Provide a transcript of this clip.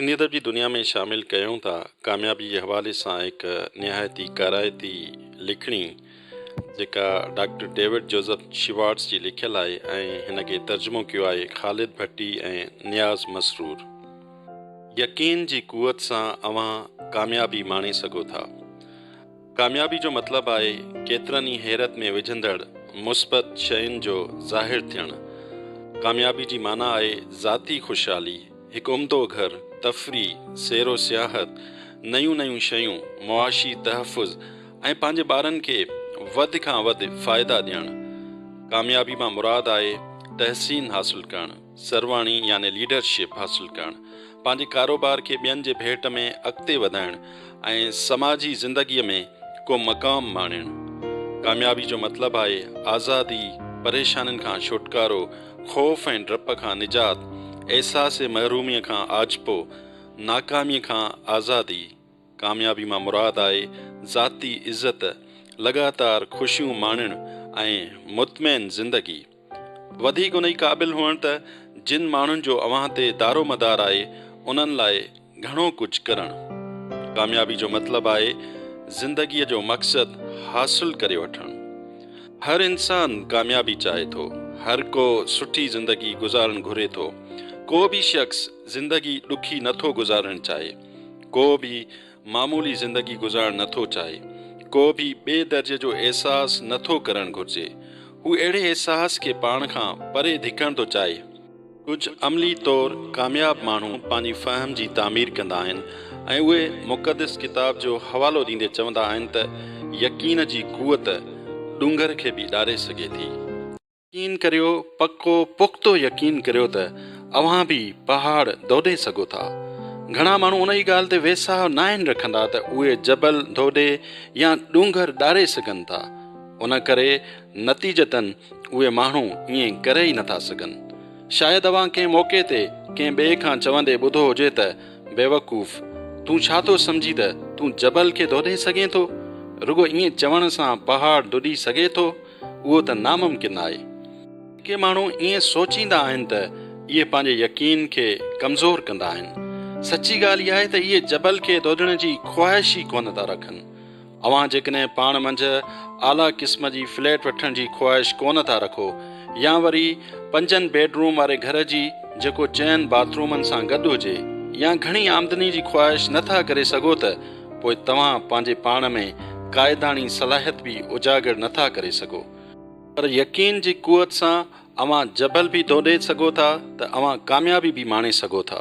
سنڌي ادب جي دنيا ۾ شامل ڪيون ٿا. ڪاميابيء جي حوالي سان هڪ نهايت ئي ڪارائتي لکڻي جيڪا ڊاڪٽر ڊيوڊ جوزف شيوارڊز جي لکيل آهي ۽ هن کي ترجمو ڪيو آهي خالد ڀٽي ۽ نياز مسرور. يقين جي قوت سان اوهان ڪاميابي ماڻي سگهو ٿا. ڪاميابي جو مطلب آهي ڪيترن ئي حيرت ۾ وجهندڙ مثبت شين جو ظاهر ٿيڻ. ڪاميابي جي معنيٰ آهي ذاتي خوشحالي، هڪ عمدو گهر، تفريح، سير و سياحت، نيون نيون شيون، معاشي تحفظ ۽ پنهنجي ٻارن کي وڌ کان وڌ فائدا ڏيڻ. ڪاميابي مان مراد آهي تحسين حاصل ڪرڻ. سرواڻي يعني ليڊر شپ حاصل ڪرڻ، پنهنجي ڪاروبار کي ٻين جي ڀيٽ ۾ اڳتي وڌائڻ ۽ سماجي زندگيء ۾ ڪو مقام ماڻڻ. ڪاميابي جو مطلب آهي آزادي، پريشانين کان ڇوٽڪارو، خوف ۽ ڊپ کان نجات، احساس محروميء کان آجپو، ناڪاميء کان آزادي. ڪاميابي مان مراد آهي ذاتي عزت، لڳاتار خوشيون ماڻڻ ۽ مطمئن زندگي. وڌيڪ انهي قابل هئڻ ته جن ماڻهن جو اوهان تي دارومدار آهي انهن لاء گهڻو ڪجهه ڪرڻ. ڪاميابي جو مطلب آهي زندگيء جو مقصد حاصل ڪري وٺڻ. هر انسان ڪاميابي چاهي ٿو. هر ڪو سٺي زندگي گذارڻ گهري ٿو. ڪو به شخص زندگي ڏکي نه ٿو گذارڻ چاهي. ڪو به معمولي زندگي گذارڻ نه ٿو چاهي. ڪو به ٻئي درجي جو احساس نه ٿو ڪرڻ گهرجي. هو اهڙي احساس کي پاڻ کان پري ڌڪڻ ٿو چاهي. ڪجهه عملي طور ڪامياب ماڻهو پنهنجي فهم جي تعمير ڪندا آهن ۽ اهي مقدس ڪتاب جو حوالو ڏيندي چوندا آهن ته يقين جي قوت ڏونگر کي به ڏاري سگهي ٿي. يقين ڪريو، پڪو پختو يقين ڪريو ته اوهان به پهاڙ ڌوڏي سگهو ٿا. گهڻا ماڻهو انهيء ڳالهه تي ويساهه ناهن رکندا ته اهي جبل ڌوڏي يا ڏونگر ڏاري سگهن ٿا. ان ڪري نتيجتاً اهي ماڻهو ائين ڪري ئي نٿا سگهن. شايد اوهان ڪنهن موقعي تي ڪنهن ٻئي کان چوندي ٻڌو هجي ته، بيوقوف! تون ڇا ٿو سمجهين ته تون جبل کي ڌوڏي سگهين ٿو؟ رڳو ائين چوڻ سان پهاڙ ڌوڏي سگهي ٿو؟ اهو ته ناممڪن آهي. ڪي ماڻهو ائين سوچيندا آهن ته اهي پنهنجي يقين کي ڪمزور ڪندا آهن. سچي ڳالهه اها آهي ته اهي جبل کي ڌوجڻ جي خواهش ئي ڪونه ٿا رکن. اوهان جيڪڏهن پاڻ منجهه اعليٰ قسم جي فليٽ وٺڻ جي خواهش ڪونه ٿا رکو يا وري پنجن بيڊ روم واري گهر جي جيڪو چئن باٿ رومن سان گڏ هجي يا گهڻي آمدني جي خواهش نه ٿا ڪري سگهو ته پوء توهان پنهنجي پاڻ ۾ قائداڻي صلاحيت به اجاگر نه ٿا ڪري سگهو. پر يقين جي قوت سان اوهان جبل به ڊوڙي سگهو ٿا ته اوهان ڪاميابي به ماڻي سگهو ٿا.